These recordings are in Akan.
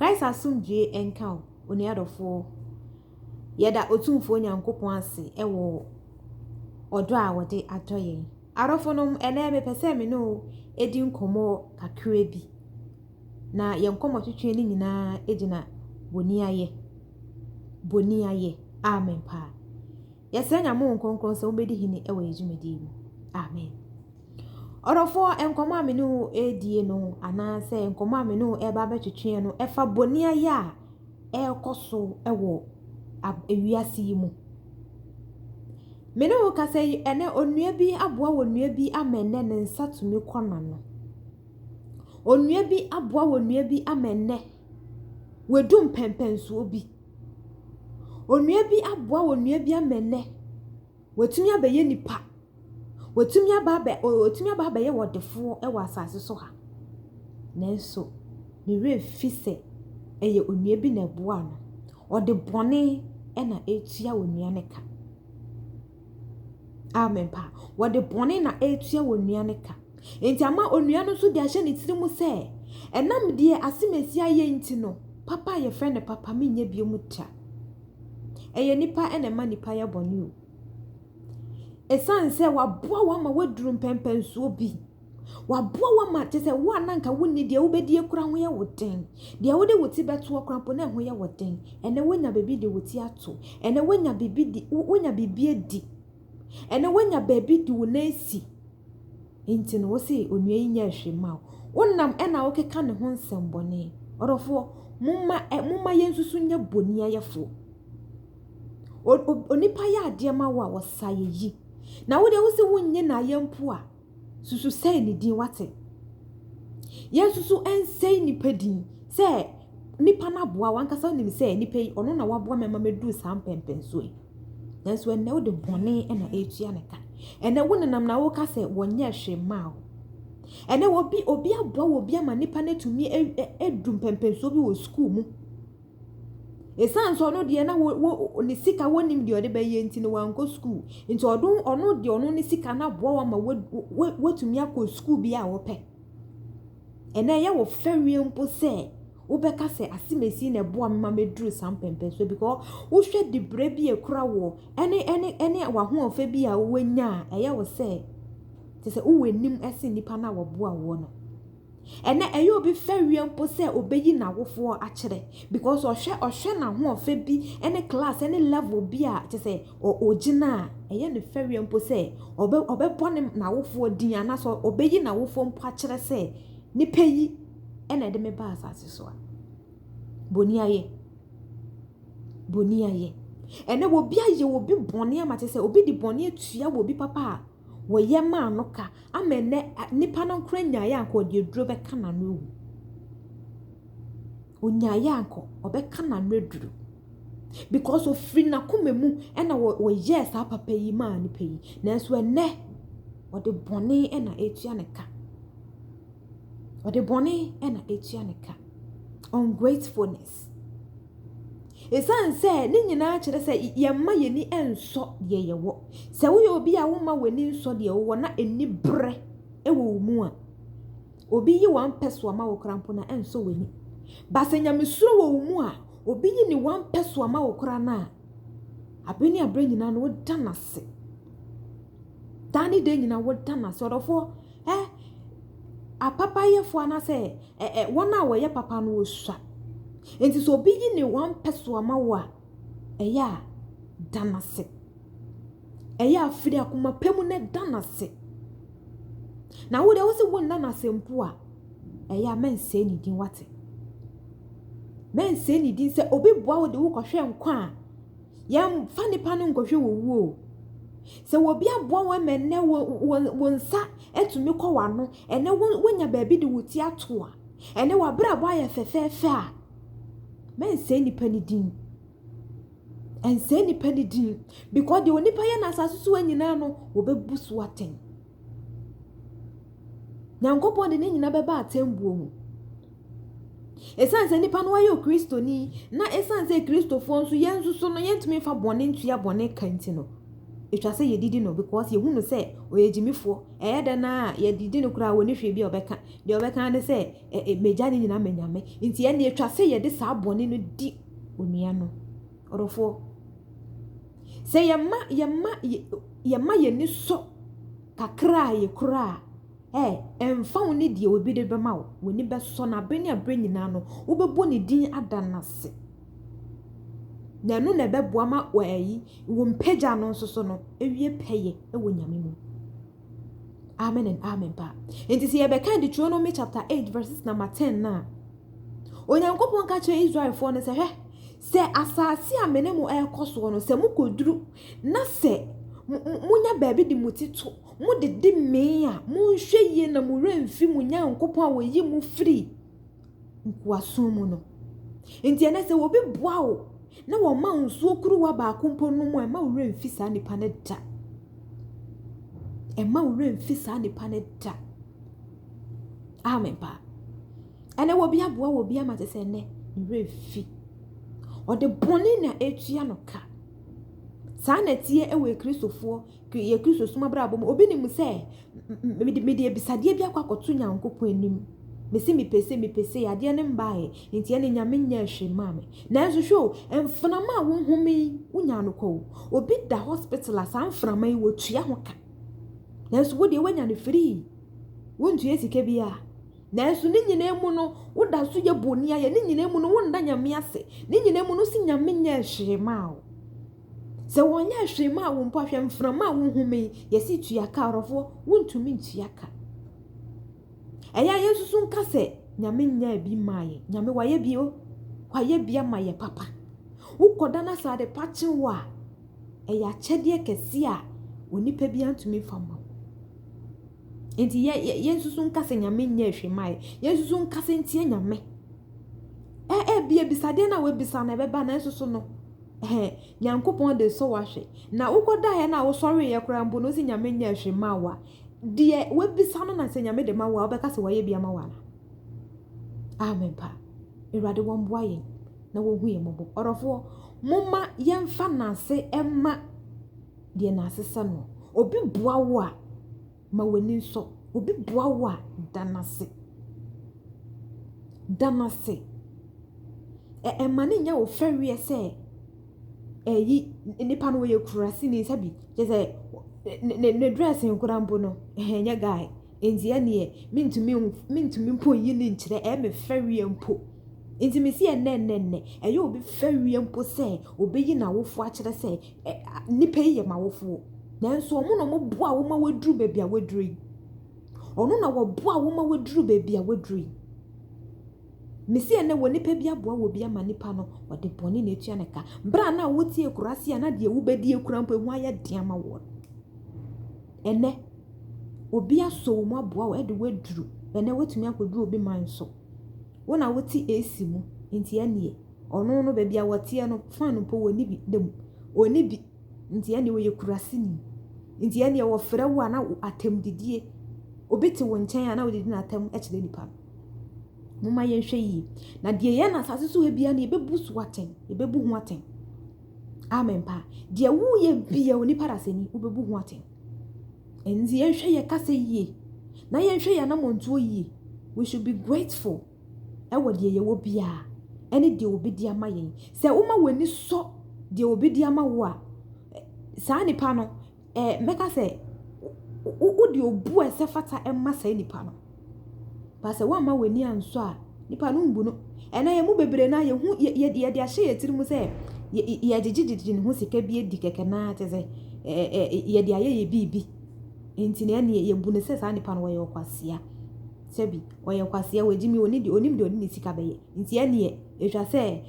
Christ asomdwoe nka wo, onua dɔfoɔ. Yɛda Otumfoɔ Nyankopɔn ase wɔ ɔdɔ a ɔde adɔ yɛn. Adɔfonom, ɛnɛ mepɛ sɛ me ne wo di nkɔmmɔ kakra bi, na yɛn nkɔmmɔtwetwe no nyinaa gyina boniayɛ. Boniayɛ. Amen paa. Yɛsrɛ Nyame Honhom Kronkron sɛ ɔmmɛdi hene wɔ yɛn dwumadie mu. Amen. Ɔdɔfoɔ, nkɔmmɔ a me ne wo ɛredie no anaasɛ nkɔmmɔ a me ne wo ɛreba abɛtwetweɛ no ɛfa boniayɛ a ɛrekɔ so wɔ ewiase yi mu. Me ne wo kasa yi ɛnɛ onua bi aboa wɔ nua bi ama ɛnɛ ne nsa tumi kɔ n'ano. Onua bi aboa wɔ nua bi ama ɛnɛ wadu mpɛmpɛnsoɔ bi. Onua bi aboa wɔ nua bi ama ɛnɛ. Watumi abɛyɛ nipa. Watumi aba abɛ ɔ watumi aba abɛyɛ ɔdefoɔ wɔ asase so ha. Nanso, ne werɛ mfi sɛ ɛyɛ onua bi na ɛboaa no. Ɔde bɔne na ɛretua onua no ka. Amen paa. Wɔde bɔne na ɛretua onua no ka. Enti ama onua no nso de ahyɛ ne tiri mu sɛ, ɛnam deɛ Asemasi ayɛ nti no, papa a yɛfrɛ no papa menyɛ biom da. Ɛyɛ nipa na ɛma nipa yɛ bɔne o. Ɛsiane sɛ waboa wo ama woaduru mpɛnpɛnsoɔ bi. Waboa wo ama kyɛ sɛ wo a na anka wonni deɛ wobɛdie koraa ho yɛ wo den. Deɛ wode wo ti bɛtoɔ koraa mpo na ɛho yɛ wo den. Ɛnɛ woanya baabi de wo ti ato. Ɛnɛ woanya biribi di, woanya biribi adi. Ɛnɛ woanya baabi de wo nan asi nti no wo se onua yi nyɛ hwee mma wo. Wonam ɛna wokeka ne ho nsɛmbɔne. Ɔdɔfoɔ, momma ɛ momma yɛnsusu nyɛ boniayɛfoɔ. O o onipa yɛ adeɛ ma wo a ɔsaeɛ yi. Na wo deɛ wo se wonnye no ayɛ mpo a. susu sɛe ne din, wate? Yɛnsusu nsɛe nipa din sɛ nipa no aboa wankasa wonim sɛ nipa yi ɔno na waboa mɛma mɛduru saa mpɛmpɛnsoɔ yi nanso ɛnnɛ wode bɔne na ɛretua ne ka ɛnɛ wo nenam na woka sɛ wɔnyɛ hwee mmaa wo ɛnɛ obi obi aboa wɔ bi ama nipa no atumi adu mpɛmpɛnsoɔ bi wɔ sukuu mu Esiane sɛ ɔno deɛ na wo, wo, ne sika wɔnim deɛ ɔde bɛyɛ nti no wankɔ sukuu. Nti ɔdo, ɔno deɛ ɔno ne sika no aboa wo ama woatumi akɔ sukuu bi a wopɛ. Ɛnɛ ɛyɛ wo fɛ wie mpo sɛ wobɛka sɛ asemesi na ɛboa me ma meduru saa mpɛmpɛnsoɔ because wohwɛ dibrɛ bi a ɛkura woɔ ɛne ɛne ɛne w'ahoɔfɛ bi a woanya a ɛyɛ wo sɛ te sɛ wowɔ anim ɛsen nnipa no a wɔboa woɔ no. Ɛnɛ ɛyɛ obi fɛreɛ mpo sɛ ɔbɛyi n'awofoɔ akyerɛ because ɔhwɛ ɔhwɛ n'ahoɔfɛ bi ne class ne level bi a kyɛ sɛ ɔgyina a ɛyɛ ne fɛreɛ mpo sɛ ɔbɛ ɔbɛbɔ ne n'awofoɔ din anaasɛ ɔbɛyi n'awofoɔ mpo akyerɛ sɛ nipa yi ɛna ɛde me ba asase so a boni ayɛ boni ayɛ ɛnɛ obi ayɛ obi bɔne ama kyɛ sɛ obi de bɔne atua obi papa a wɔyɛ maa no ka Ama ɛnnɛ nipa no nkora nyaeɛ anka ɔde aduro bɛka n'ano awu. Ɔnyaeɛ anka ɔbɛka n'ano aduro. Because ɔfiri n'akoma mu ɛna wɔyɛɛ saa papa yi maa nipa yi. Nanso ɛnnɛ ɔde bɔne ɛna ɛtua ne ka. Ɔde bɔne ɛna ɛtua ne ka. Ungratefulness. Esiane sɛ ne nyinaa kyerɛ sɛ yɛmma yɛn ani nsɔ deɛ yɛwɔ. Sɛ woyɛ obi a womma w'ani nsɔ deɛ wowɔ na aniberɛ wɔ wo mu a, obi yi w'ampɛ soa ma wo koraa mpo no a, ɛnsɔ w'ani. Ba sɛ nyamesuro wɔ wo mu a, obi yi ne w'ampɛ soa ma wo koraa no a, abere ne abere nyinaa no woda no ase. Daa ne da nyinaa woda no ase. Ɔdɔfoɔ, ɛ, apapayɛfoɔ anaasɛ Ɛ ɛ wɔn a wɔyɛ papa no wɔsua. Enti sɛ obi yi ne one pɛ so ama wo a, ɛyɛ a da no ase. Ɛyɛ a firi akoma pa mu na da no ase. Na wo deɛ wo se wonna no ase mpo a, ɛyɛ a mɛnsɛe ne din wate. Mɛnsɛe ne din sɛ obi boa wo de wokɔhwɛ nkwa a, Yɛmfa nnipa no nkɔhwɛ wɔ wuo o. Sɛ obi aboa wo ma ɛnɛ wo, wo, wo nsa atumi kɔ w'ano, ɛnɛ wo, wonya baabi de wo ti ato a, ɛnɛ w'abrabɔ ayɛ fɛfɛɛfɛ a, mɛnsɛe nipa no din. Ɛnsɛe nipa no din. Because deɛ onipa yɛ no asase so ha nyinaa no, wɔbɛbu so atɛn. Nyankopɔn de ne nyina bɛba atsɛmbuo mu. Esiane sɛ nipa no ayɛ Kristoni na esiane sɛ Kristofoɔ nso yɛn nso so no yɛntumi nfa bɔne ntua bɔne ka nti no, ɛtwa sɛ yɛdidi no because yɛhu no sɛ ɔyɛ gyimifoɔ. Ɛyɛ dɛn na yɛdidi no koraa wɔne hwee bi a ɔbɛka. Deɛ ɔbɛka ne sɛ ɛ, ɛ, magya ne nyina ma Nyame. Nti ɛne ɛtwa sɛ yɛde saa bɔne no di onua no. Ɔdɔfoɔ, sɛ yɛma yɛma yɛma yɛn ani sɔ kakra a yɛkura a, ɛ ɛmfa wo ne deɛ obi de bɛma wo, w'ani bɛsɔ na abere ne abere nyinaa no wobɛbɔ ne din ada no ase. Na ɛno na ɛbɛboa ma wɔ ayi wo mpagya no nso so no awie pɛyɛ wɔ Nyame mu. Amen and amen paa. Nti sɛ yɛbɛka Deuteronomy chapter 8 verses number 10 no a, Onyankopɔn ka kyerɛ Israelfoɔ no sɛ hwɛ Sɛ asase a me ne mo rekɔ soɔ no, sɛ mokɔduru na sɛ monya baabi de mo ti to, modede mee a, monhwɛ yie na mo werɛ mfi mo Nyankopɔn a ɔyi mo firi nkoasom mu no. Nti ɛnɛ sɛ obi boa wo na wɔma wo nsuo kuruwa baako mpo nom a, ɛma wo werɛ mfi saa nipa no da. Ɛma wo werɛ mfi saa nipa no da. Amen paa. Ɛnɛ wobi aboa wobi ama te sɛ ɛnɛ ne werɛ fi. Ɔde bɔne na ɛtua no ka. Saa na ɛteɛ wɔ Kristofoɔ, yɛ Kristosom abrabɔ mu. Obi nim sɛ mede abisadeɛ bi akɔ akɔto Nyankopɔn anim. Mese mepɛ sei mepɛ sei adeɛ no mbaeɛ nti ɛne Nyame nyɛ hwee maa me. Nanso hwɛ o mframa a wohome yi wonyaa no kwa o. Obi da hospital a saa mframa yi wɔtua ho ka. Nanso wodeɛ woanya no free. Wontua sika biara. Nanso ne nyinaa mu no, woda so yɛ boni ayɛ. Ne nyinaa mu no, wonna Nyame ase. Ne nyinaa mu no, wose Nyame nyɛɛ hwee mmaa wo. Sɛ wɔnyɛɛ hwee mmaa wo mpo a, hwɛ mframa a wohome yi, yɛse tua ka, ɔrɔfoɔ, wontumi ntua ka. Ɛyɛ a yɛn nso nka sɛ, Nyame nyɛɛ bi mmaa yɛn. Nyame wayɛ bi o, wayɛ bi ama yɛ papa. Wokɔda na sɛ ade pa kye wo a, ɛyɛ akyɛdeɛ kɛseɛ a onipa bi antumi mfa mma wo. Enti yɛ yɛ yɛnsusu nka sɛ Nyame nyɛɛ hwee mae. Yɛnsusu nka sɛ ntie Nyame. Ɛ ɛbi abisadeɛ no a wabisa no ɛbɛba nanso so no ɛhɛ Nyankopɔn de sɔ wahwɛ. Na wokɔdaeɛ no a wosɔreeɛ koraa mpo no wose Nyame nyɛɛ hwee maa wo a, deɛ wabisa no na sɛ Nyame de ma wo a wobɛka sɛ wayɛ bi ama wo anaa? Amen paa. Awurade wɔmboa yɛn na wɔhu yɛn mmɔbɔ. Ɔdɔfoɔ, momma yɛmfa nnanse mma deɛ n'asesa no. Obi boa wo a, ma w'ani nsɔ. Obi boa wo a, da no ase. Da no ase. Ɛ ɛmma no nyɛ wo fɛreɛ sɛ ɛyi nipa no ɔyɛ kurasini sɛbi kyerɛ sɛ ne ne ne dressing koraa mpo no ɛnyɛ guy. Enti ɛnneɛ mentumi nhu, mentumi mpo nyi no nkyerɛ, ɛyɛ me fɛreɛ mpo. Enti mese ɛnnɛnnɛnnɛ, ɛyɛ obi fɛreɛ mpo sɛ ɔbɛyi n'awofoɔ akyerɛ sɛ ɛ, nnipa yi yɛ m'awofoɔ. Nanso ɔno na ɔboaa wo ma woaduru baabi a woaduru yi. Ɔno na ɔboaa wo ma woaduru baabi a woaduru yi. Mese ɛnnɛ wɔ nipa bi aboa wɔ bi ama nipa no, ɔde bɔne na ɛtua no ka. Berɛ a na wote akuraase a na deɛ wobɛdie koraa mpo ɛho ayɛ den ama woɔ no. ɛnnɛ obi asɔ wo mu aboa wo de wo aduru, ɛnnɛ woatumi akɔduru obi man so. Wo na wote AC mu, nti ɛnneɛ ɔno no baabi a ɔteɛ no, fan mpo wɔnni bi da mu. Ɔnni bi, nti ɛnneɛ ɔyɛ kuraseni. Nti ɛnneɛ wɔfrɛ wo a na atɛmdidie, obi te wo nkyɛn a na wode di no atɛm kyerɛ nipa no. Momma yɛnhwɛ yie. Na deɛ yɛn asase so ha biara no yɛbɛbu so atɛn, yɛbɛbu ho atɛn. Amen paa. Deɛ woyɛ bia onipa dasani wobɛbu ho atɛn. Ɛnti yɛnhwɛ yɛ kasa yie na yɛnhwɛ yɛ anamɔntuo yie. We should be grateful ɛwɔ deɛ yɛwɔ biara ɛne deɛ obi de ama yɛn. Sɛ woma w'ani sɔ deɛ obi de ama wo a, saa nipa no eh, mɛka sɛ, wode obu a ɛsɛ fata ma saa nipa no. Ba sɛ woamma w'ani ansɔ a, nipa no mbu no. Ɛnɛ yɛn mu bebree na yɛhu yɛde ahyɛ yɛn tirim sɛ yɛgyegyegyegye ne ho sika bi adi kɛkɛ naa te sɛ yɛde ayɛ yɛ biribi. Nti na ɛneɛ yɛbu no sɛ saa nipa no wɔyɛ ɔkwasea. Sɛbi, ɔyɛ ɔkwasea, wɔagye mi, onim deɛ ɔne ne sika bɛyɛ. Nti ɛnneɛ, ɛtwa sɛ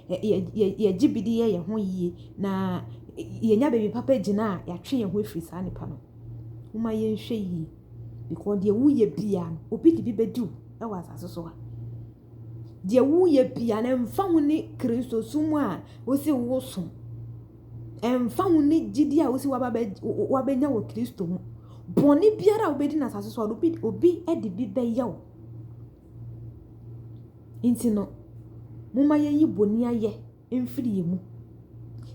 yɛgye bi de yɛ yɛn ho yie na yɛnya baabi papa gyina a yɛatwe yɛn ho afiri saa nipa no. Momma yɛnhwɛ yie because deɛ woyɛ biara no, obi de bi bɛdi wo wɔ asase so ha. Deɛ woyɛ bia no ɛmfa ho ne kristosom a wosi wosom ɛmfa ho ne gyidi a wosi wabɛnya wɔ kristo ho bɔne biara a wobɛdi no asase so a obi de bi bɛyɛ wo Nti no, momma yɛnyi boniayɛ mfiri yɛn mu.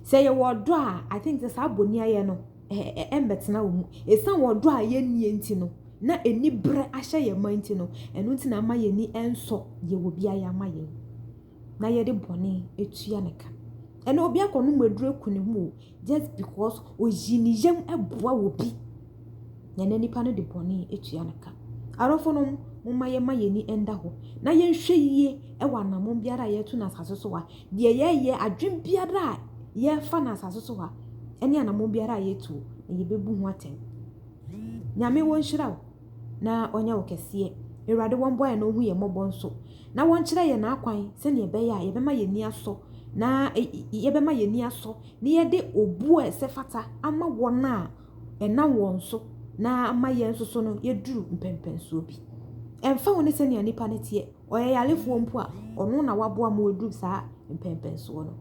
Sɛ yɛwɔ ɔdɔ a, I think sɛ saa boniayɛ no, ɛmbɛtena wɔ mu. Ɛsiane ɔdɔ a yɛnnie nti no, na aniberɛ ahyɛ yɛn ma nti no, ɛno nti na ama yɛn ani nsɔ deɛ obiara yɛ ama yɛn. na yɛde bɔne atua no ka. Ɛnna obi akɔnom aduru aku ne ho o, just because oyi ne yam boa obi, na ɛnna nipa no de bɔne atua no ka. Adɔfonom, momma yɛmma yɛn ani nda hɔ, na yɛnhwɛ yie wɔ anammɔn biara a yɛretu no asase so ha, deɛ yɛreyɛ, adwene biara a yɛrefa no asase so ha, ne anammɔn biara a yɛretuo, na yɛbɛbu ho atɛn. Nyame, wɔnhyira wo. na ɔnyɛ wo kɛseɛ. Awurade wɔn bɔeɛ na ɔhu yɛn mmɔbɔ nso, na wɔnkyerɛ yɛn n'akwan sɛdeɛ ɛbɛyɛ a yɛbɛma yɛn ani asɔ, na yɛbɛma yɛn ani asɔ, na yɛde obuo a ɛsɛ fata ama wɔn a ɛnam wɔn so, na ama yɛn nso so no yɛduru mpɛnpɛnsoɔ bi. Ɛmfa ho ne sɛdeɛ nnipa no teɛ. ɔyɛ yarefoɔ mpo a, ɔno na waboa ma waduru saa mpɛnpɛnsoɔ no.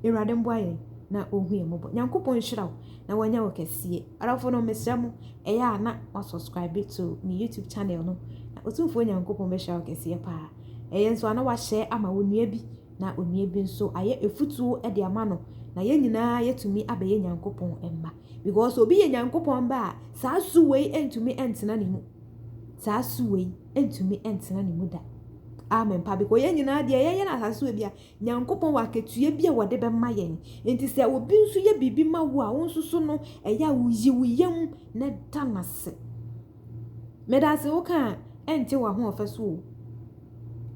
Awurade mboa yɛn na ɔnhu yɛn mmɔbɔ. Nyankopɔn nhyira wo na wanya wo kɛseɛ. Adɔfo no mesrɛ mo, ɛyɛ a na mo subscribe to me YouTube channel no, na Otumfoɔ Nyankopɔn bɛhyira wo kɛseɛ paa. Ɛyɛ nso a na wahyɛ ama wo nua bi, na onua bi nso ayɛ afutuo de ama no, na yɛn nyinaa yɛtumi abɛyɛ Nyankopɔn mma. Because obi yɛ Nyankopɔn mma a, saa su wei ntumi ntena ne mu. saa su wei ntumi ntena ne mu da. Amen pa because yɛn nyinaa deɛ yɛyɛ no asase wɔ bia Nyankopɔn wɔ akatua bi a wɔde bɛma yɛn. Nti sɛ obi nso yɛ biribi ma wo a wo nso so no ɛyɛ a woyi wo yam na da no ase. Meda ase wo ka a ɛnte w'ahoɔfɛ so o.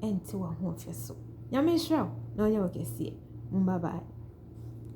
Ɛnte w'ahoɔfɛ so. Nyame nhyira wo na ɔnyɛ wo kɛseɛ. Bye bye.